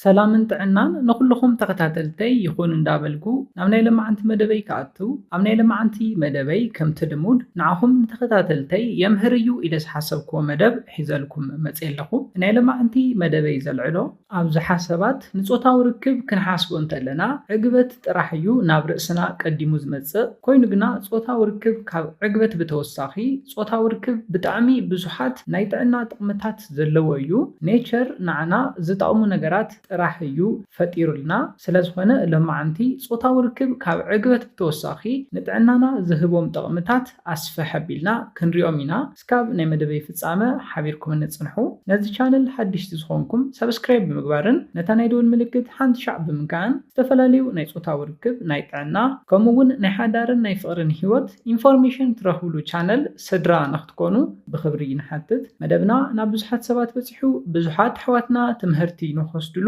ሰላምን ጥዕናን ንኹሉኹም ተኸታተልተይ ይኹን እንዳበልኩ ናብ ናይ ለማዓንቲ መደበይ ክኣቱ ኣብ ናይ ለማዓንቲ መደበይ ከምቲ ልሙድ ንዓኹም ንተኸታተልተይ የምህር እዩ ኢለ ዝሓሰብኩዎ መደብ ሒዘልኩም መጼ ኣለኹ ናይ ለማዓንቲ መደበይ ዘልዕሎ ኣብዝሓ ሰባት ንጾታዊ ርክብ ክንሓስቦ እንተለና ዕግበት ጥራሕ እዩ ናብ ርእስና ቀዲሙ ዝመጽእ ኮይኑ ግና ጾታዊ ርክብ ካብ ዕግበት ብተወሳኺ ጾታዊ ርክብ ብጣዕሚ ብዙሓት ናይ ጥዕና ጥቕምታት ዘለዎ እዩ ኔቸር ንዓና ዝጠቅሙ ነገራት ጥራሕ እዩ ፈጢሩልና ስለዝኾነ ሎማዓንቲ ፆታዊ ርክብ ካብ ዕግበት ብተወሳኺ ንጥዕናና ዝህቦም ጥቅምታት ኣስፍሕ ኣቢልና ክንሪኦም ኢና እስካብ ናይ መደበይ ፍፃመ ሓቢርኩምኒ ፅንሑ ነዚ ቻነል ሓድሽቲ ዝኾንኩም ሳብስክራይብ ብምግባርን ነታ ናይ ደወል ምልክት ሓንቲ ሻዕ ብምንካእን ዝተፈላለዩ ናይ ፆታዊ ርክብ ናይ ጥዕና ከምኡ እውን ናይ ሓዳርን ናይ ፍቅርን ሂወት ኢንፎርሜሽን ትረኽብሉ ቻነል ስድራ ንክትኮኑ ብኽብሪ ንሓትት መደብና ናብ ብዙሓት ሰባት በጺሑ ብዙሓት ኣሕዋትና ትምሀርቲ ንኽወስድሉ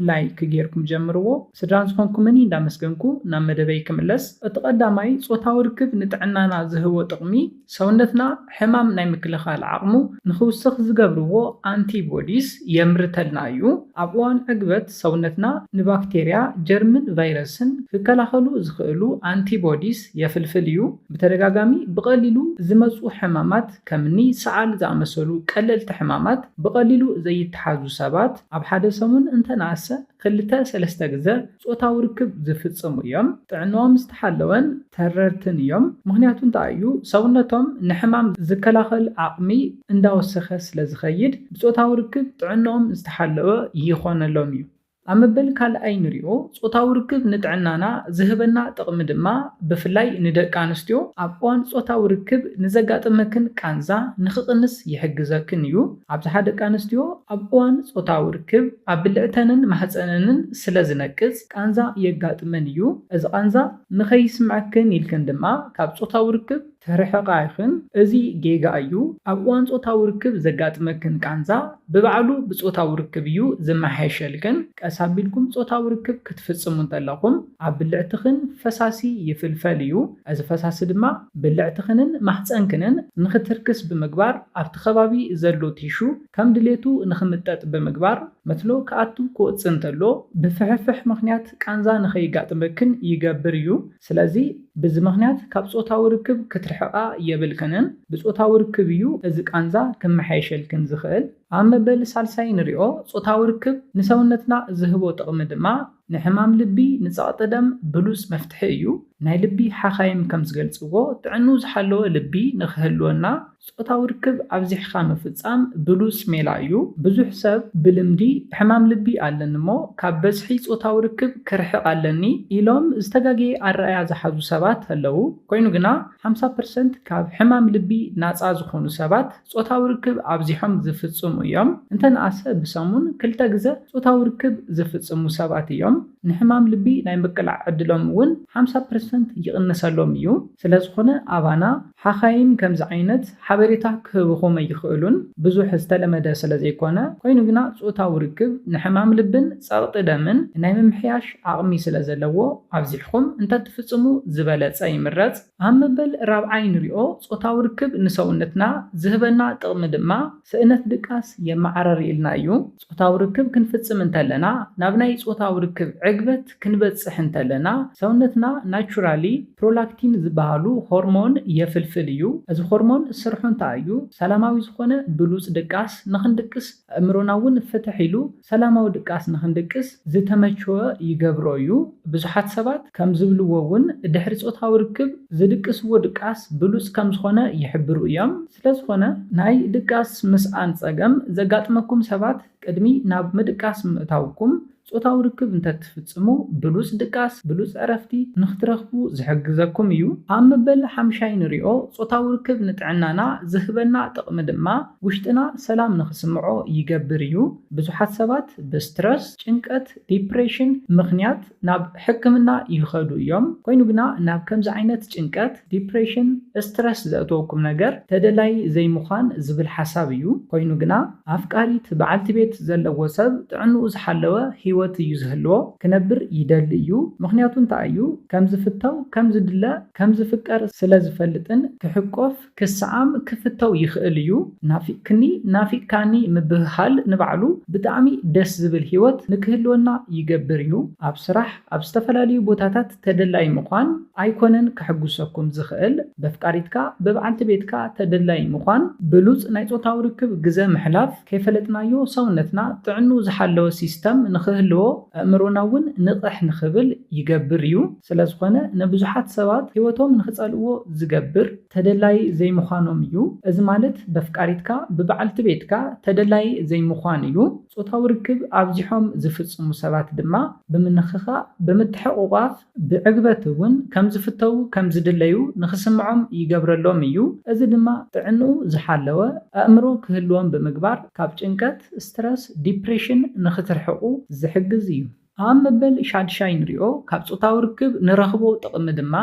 ላይክ ጌርኩም ጀምርዎ ስድራን ዝኾንኩምኒ እንዳመስገንኩ ናብ መደበይ ክምለስ እቲ ቀዳማይ ጾታዊ ርክብ ንጥዕናና ዝህቦ ጥቕሚ ሰውነትና ሕማም ናይ ምክልኻል ዓቕሙ ንኽውስኽ ዝገብርዎ ኣንቲ ቦዲስ የምርተልና እዩ ኣብ እዋን ዕግበት ሰውነትና ንባክቴርያ ጀርምን ቫይረስን ክከላኸሉ ዝኽእሉ ኣንቲ ቦዲስ የፍልፍል እዩ። ብተደጋጋሚ ብቐሊሉ ዝመጹ ሕማማት ከምኒ ሰዓል ዝኣመሰሉ ቀለልቲ ሕማማት ብቐሊሉ ዘይተሓዙ ሰባት ኣብ ሓደ ሰሙን እንተነኣሰ ክልተ ሰለስተ ግዘ ጾታዊ ርክብ ዝፍጽሙ እዮም። ጥዕንኦም ዝተሓለወን ተረርትን እዮም ምኽንያቱ እንታይ እዩ ሰውነቶም ንሕማም ዝከላኸል ዓቕሚ እንዳወሰኸ ስለዝኸይድ ብጾታዊ ርክብ ጥዕንኦም ዝተሓለወ ይኾነሎም እዩ። ኣብ መበል ካልኣይ ንሪኦ ጾታዊ ርክብ ንጥዕናና ዝህበና ጥቕሚ ድማ ብፍላይ ንደቂ ኣንስትዮ ኣብ እዋን ጾታዊ ርክብ ንዘጋጥመክን ቃንዛ ንኽቕንስ ይሕግዘክን እዩ። ኣብዝሓ ደቂ ኣንስትዮ ኣብ እዋን ጾታዊ ርክብ ኣብ ብልዕተንን ማህጸነንን ስለ ዝነቅጽ ቃንዛ የጋጥመን እዩ። እዚ ቃንዛ ንኸይስምዐክን ኢልክን ድማ ካብ ጾታዊ ርክብ። ተርሕቓ ኢኽን፣ እዚ ጌጋ እዩ፣ ኣብ እዋን ጾታዊ ርክብ ዘጋጥመክን ቃንዛ ብባዕሉ ብጾታዊ ርክብ እዩ ዝመሓየሸልክን፣ ቀስ ኣቢልኩም ጾታዊ ርክብ ክትፍጽሙ እንተለኹም ኣብ ብልዕትኽን ፈሳሲ ይፍልፈል እዩ፣ እዚ ፈሳሲ ድማ ብልዕትኽንን ማህጸንክንን ንኽትርክስ ብምግባር ኣብቲ ከባቢ ዘሎ ቲሹ ከም ድሌቱ ንኽምጠጥ ብምግባር መትሎ ክኣቱ ክወጽእ እንተሎ ብፍሕፍሕ ምኽንያት ቃንዛ ንኸይጋጥመክን ይገብር እዩ። ስለዚ ብዚ ምኽንያት ካብ ጾታዊ ርክብ ክትርሕቓ የብልክንን፣ ብጾታዊ ርክብ እዩ እዚ ቃንዛ ክመሓየሸልክን ዝኽእል። ኣብ መበል ሳልሳይ ንሪኦ፣ ጾታዊ ርክብ ንሰውነትና ዝህቦ ጥቕሚ ድማ ንሕማም ልቢ፣ ንጸቕጢ ደም ብሉጽ መፍትሒ እዩ። ናይ ልቢ ሓኻይም ከም ዝገልጽዎ ጥዕንኡ ዝሓለወ ልቢ ንኽህልወና ጾታዊ ርክብ ኣብዚሕካ ምፍጻም ብሉጽ ሜላ እዩ። ብዙሕ ሰብ ብልምዲ ሕማም ልቢ ኣለኒ እሞ ካብ በዝሒ ጾታዊ ርክብ ክርሕቕ ኣለኒ ኢሎም ዝተጋገየ ኣረኣእያ ዝሓዙ ሰባት ኣለዉ። ኮይኑ ግና ሓምሳ ፐርሰንት ካብ ሕማም ልቢ ናጻ ዝኾኑ ሰባት ጾታዊ ርክብ ኣብዚሖም ዝፍጽሙ እዮም። እንተንኣሰ ብሰሙን ክልተ ግዘ ጾታዊ ርክብ ዝፍጽሙ ሰባት እዮም። ንሕማም ልቢ ናይ ምቅላዕ ዕድሎም እውን ሓምሳ ፐርሰንት ይቕንሰሎም እዩ። ስለዝኾነ ኣባና። ሓኻይም ከምዚ ዓይነት ሓበሬታ ክህብኹም ኣይኽእሉን፣ ብዙሕ ዝተለመደ ስለ ዘይኮነ፣ ኮይኑ ግና ጾታዊ ርክብ ንሕማም ልብን ጸቕጢ ደምን ናይ ምምሕያሽ ዓቕሚ ስለ ዘለዎ ኣብዚሕኹም እንተትፍጽሙ ዝበለጸ ይምረጽ። ኣብ መበል ራብዓይ ንሪኦ ጾታዊ ርክብ ንሰውነትና ዝህበና ጥቕሚ ድማ ስእነት ድቃስ የመዓራርየልና እዩ። ጾታዊ ርክብ ክንፍጽም እንተለና ናብ ናይ ጾታዊ ርክብ ዕግበት ክንበጽሕ እንተለና ሰውነትና ናቹራሊ ፕሮላክቲን ዝበሃሉ ሆርሞን የፍልፍል እዩ። እዚ ሆርሞን ስርሑ እንታይ እዩ? ሰላማዊ ዝኾነ ብሉጽ ድቃስ ንኽንድቅስ ኣእምሮና እውን ፍትሕ ኢሉ ሰላማዊ ድቃስ ንኽንድቅስ ዝተመቸወ ይገብሮ እዩ። ብዙሓት ሰባት ከም ዝብልዎ እውን ድሕሪ ጾታዊ ርክብ ዝድቅስዎ ድቃስ ብሉጽ ከም ዝኾነ ይሕብሩ እዮም። ስለዝኾነ ናይ ድቃስ ምስኣን ጸገም ዘጋጥመኩም ሰባት ቅድሚ ናብ ምድቃስ ምእታውኩም ጾታዊ ርክብ እንተትፍጽሙ ብሉጽ ድቃስ፣ ብሉጽ ዕረፍቲ፣ ንኽትረኽቡ ዝሕግዘኩም እዩ። ኣብ መበል ሓምሻይ ንሪኦ ጾታዊ ርክብ ንጥዕናና ዝህበና ጥቕሚ ድማ ውሽጥና ሰላም ንኽስምዖ ይገብር እዩ። ብዙሓት ሰባት ብስትረስ፣ ጭንቀት፣ ዲፕሬሽን፣ ምኽንያት፣ ናብ ሕክምና ይኸዱ እዮም። ኮይኑ ግና ናብ ከምዚ ዓይነት ጭንቀት፣ ዲፕሬሽን፣ እስትረስ ዘእትወኩም ነገር ተደላዪ ዘይምዃን ዝብል ሓሳብ እዩ። ኮይኑ ግና ኣፍቃሪት፣ በዓልቲ ቤት፣ ዘለዎ ሰብ ጥዕንኡ ዝሓለወ ህይወት እዩ ዝህልዎ፣ ክነብር ይደሊ እዩ። ምኽንያቱ እንታይ እዩ? ከምዝፍተው፣ ከምዝድለ፣ ከምዝፍቀር ስለዝፈልጥን ክሕቆፍ፣ ክሰዓም ክፍተው ይኽእል እዩ ናፊቅክኒ ናፊቅካኒ ምብህሃል ንባዕሉ ብጣዕሚ ደስ ዝብል ሂወት ንክህልወና ይገብር እዩ ኣብ ስራሕ ኣብ ዝተፈላለዩ ቦታታት ተደላይ ምኳን ኣይኮነን ከሕጉሰኩም ዝኽእል በፍቃሪትካ በብዓልቲ ቤትካ ተደላይ ምኳን ብሉጽ ናይ ጾታዊ ርክብ ግዘ ምሕላፍ ከይፈለጥናዮ ሰውነትና ጥዕንኡ ዝሓለወ ሲስተም ንክህልዎ ኣእምሮና ውን ንቅሕ ንክብል ይገብር እዩ። ስለዝኾነ ንብዙሓት ሰባት ሕይወቶም ንኽጸልእዎ ዝገብር ተደላዪ ዘይምዃኖም እዩ። እዚ ማለት በፍቃሪትካ፣ ብበዓልቲ ቤትካ፣ ተደላዪ ዘይምዃን እዩ። ጾታዊ ርክብ ኣብዚሖም ዝፍጽሙ ሰባት ድማ ብምንኽኻእ፣ ብምትሕቝቛፍ፣ ብዕግበት እውን ከም ዝፍተዉ፣ ከም ዝድለዩ ንኽስምዖም ይገብረሎም እዩ። እዚ ድማ ጥዕንኡ ዝሓለወ ኣእምሮ ክህልዎም ብምግባር ካብ ጭንቀት፣ ስትረስ፣ ዲፕሬሽን፣ ንኽትርሕቑ ዝሕግዝ እዩ። ኣብ መበል ሻድሻይ ንሪኦ ካብ ፆታዊ ርክብ ንረኽቦ ጥቕሚ ድማ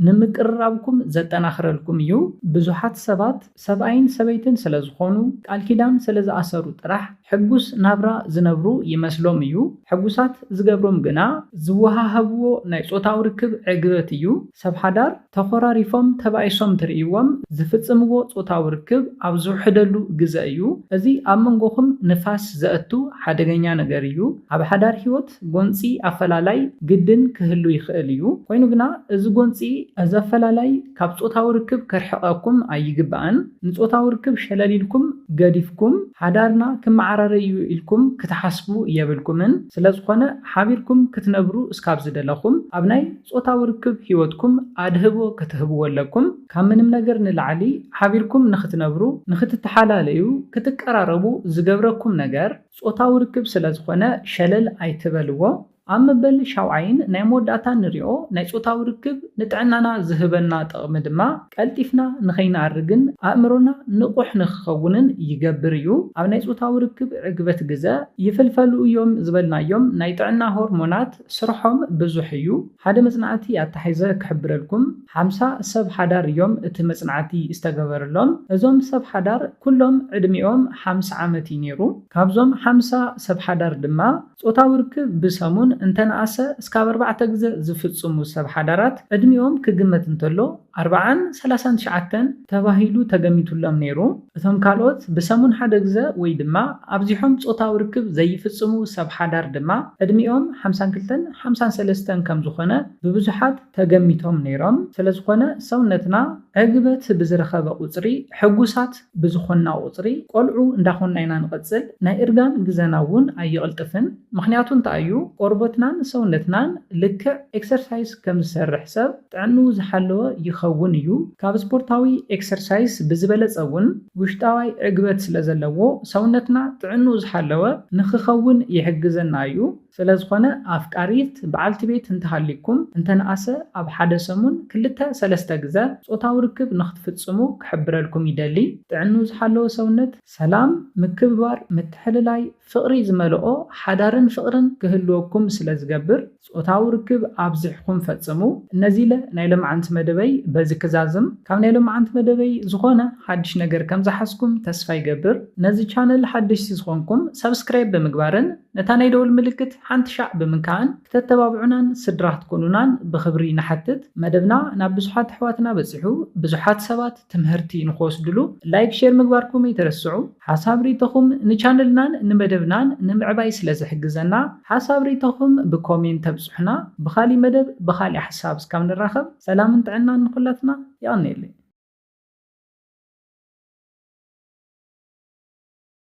ንምቅርራብኩም ዘጠናኽረልኩም እዩ። ብዙሓት ሰባት ሰብኣይን ሰበይትን ስለ ዝኾኑ ቃል ኪዳን ስለ ዝኣሰሩ ጥራሕ ሕጉስ ናብራ ዝነብሩ ይመስሎም እዩ። ሕጉሳት ዝገብሮም ግና ዝወሃሀብዎ ናይ ፆታዊ ርክብ ዕግበት እዩ። ሰብ ሓዳር ተኾራሪፎም ተባኢሶም ትርእይዎም ዝፍጽምዎ ጾታዊ ርክብ ኣብ ዝውሕደሉ ግዘ እዩ። እዚ ኣብ መንጎኹም ንፋስ ዘእቱ ሓደገኛ ነገር እዩ። ኣብ ሓዳር ህይወት ጎንጺ ኣፈላላይ ግድን ክህሉ ይኽእል እዩ። ኮይኑ ግና እዚ ጎንጺ እዚ ኣፈላላይ ካብ ጾታዊ ርክብ ከርሕቐኩም ኣይግባእን። ንጾታዊ ርክብ ሸለል ኢልኩም ገዲፍኩም ሓዳርና ክመዓራረ እዩ ኢልኩም ክትሓስቡ የብልኩምን። ስለዝኾነ ሓቢርኩም ክትነብሩ እስካብ ዝደለኹም ኣብ ናይ። ጾታዊ ርክብ ህይወትኩም ኣድህቦ ክትህብዎ ኣለኩም። ካብ ምንም ነገር ንላዕሊ ሓቢርኩም ንኽትነብሩ፣ ንኽትተሓላለዩ፣ ክትቀራረቡ ዝገብረኩም ነገር ጾታዊ ርክብ ስለ ዝኾነ ሸለል ኣይትበልዎ። ኣብ መበል ሻውዓይን ናይ መወዳእታን ንሪኦ ናይ ጾታዊ ርክብ ንጥዕናና ዝህበና ጥቕሚ ድማ ቀልጢፍና ንኸይንኣርግን ኣእምሮና ንቑሕ ንኽኸውንን ይገብር እዩ። ኣብ ናይ ጾታዊ ርክብ ዕግበት ግዘ ይፍልፈሉ እዮም ዝበልናዮም ናይ ጥዕና ሆርሞናት፣ ስርሖም ብዙሕ እዩ ሓደ መጽናዕቲ ኣታሒዘ ክሕብረልኩም ሓምሳ ሰብ ሓዳር እዮም እቲ መጽናዕቲ ዝተገበረሎም እዞም ሰብ ሓዳር ኩሎም ዕድሚኦም ሓምሳ ዓመት እዩ ኔሩ ካብዞም ሓምሳ ሰብ ሓዳር ድማ ጾታዊ ርክብ ብሰሙን እንተነኣሰ እስካብ ኣርባዕተ ግዘ ዝፍጽሙ ሰብ ሓዳራት ዕድሚኦም ክግመት እንተሎ ኣርባዓን ሰላሳን ትሽዓተን ተባሂሉ ተገሚቱሎም ነይሩ። እቶም ካልኦት ብሰሙን ሓደ ግዘ ወይ ድማ ኣብዚሖም ፆታዊ ርክብ ዘይፍፅሙ ሰብ ሓዳር ድማ ዕድሚኦም ሓምሳን ክልተን ሓምሳን ሰለስተን ከም ዝኾነ ብብዙሓት ተገሚቶም ነይሮም። ስለዝኾነ ሰውነትና ዕግበት ብዝረኸበ ቁፅሪ ሕጉሳት ብዝኾንና ቁጽሪ ቆልዑ እንዳኾንና ኢና ንቕጽል፣ ናይ እርጋን ግዘና እውን ኣይቕልጥፍን፣ ምኽንያቱ እንታይ እዩ ቆርበትናን ሰውነትናን ልክዕ ኤክሰርሳይስ ከም ዝሰርሕ ሰብ ጥዕንኡ ዝሓለወ ይኸውን እዩ፣ ካብ ስፖርታዊ ኤክሰርሳይስ ብዝበለጸ እውን ውሽጣዋይ ዕግበት ስለዘለዎ ሰውነትና ጥዕንኡ ዝሓለወ ንኽኸውን ይሕግዘና እዩ። ስለዝኾነ ኣፍቃሪት፣ በዓልቲ ቤት እንተሃልዩኩም እንተነኣሰ ኣብ ሓደ ሰሙን ክልተ ሰለስተ ግዘ ፆታዊ ርክብ ንክትፍፅሙ ክሕብረልኩም ይደሊ። ጥዕንኡ ዝሓለወ ሰውነት፣ ሰላም፣ ምክብባር፣ ምትሕልላይ፣ ፍቕሪ ዝመልኦ ሓዳርን ፍቕርን ክህልወኩም ስለዝገብር ፆታዊ ርክብ ኣብዚሕኹም ፈፅሙ። እነዚለ ናይ ሎምዓንቲ መደበይ በዚ ክዛዝም። ካብ ናይ ሎምዓንቲ መደበይ ዝኾነ ሓዱሽ ነገር ከምዝሓዝኩም ተስፋ ይገብር። ነዚ ቻነል ሓደሽቲ ዝኾንኩም ሳብስክራይብ ብምግባርን። ነታ ናይ ደወል ምልክት ሓንቲ ሻዕ ብምንካእን ክተተባብዑናን ስድራ ክትኮኑናን ብኽብሪ ንሓትት። መደብና ናብ ብዙሓት ኣሕዋትና በጺሑ ብዙሓት ሰባት ትምህርቲ ንኽወስድሉ ላይክ ሼር ምግባርኩም ኣይትረስዑ። ሓሳብ ሪኢቶኹም ንቻነልናን ንመደብናን ንምዕባይ ስለ ዝሕግዘና ሓሳብ ሪኢቶኹም ብኮሜንት ተብጽሑና። ብኻሊእ መደብ ብኻሊእ ሓሳብ እስካብ ንራኸብ ሰላምን ጥዕናን ንኹላትና። የቐንየለይ።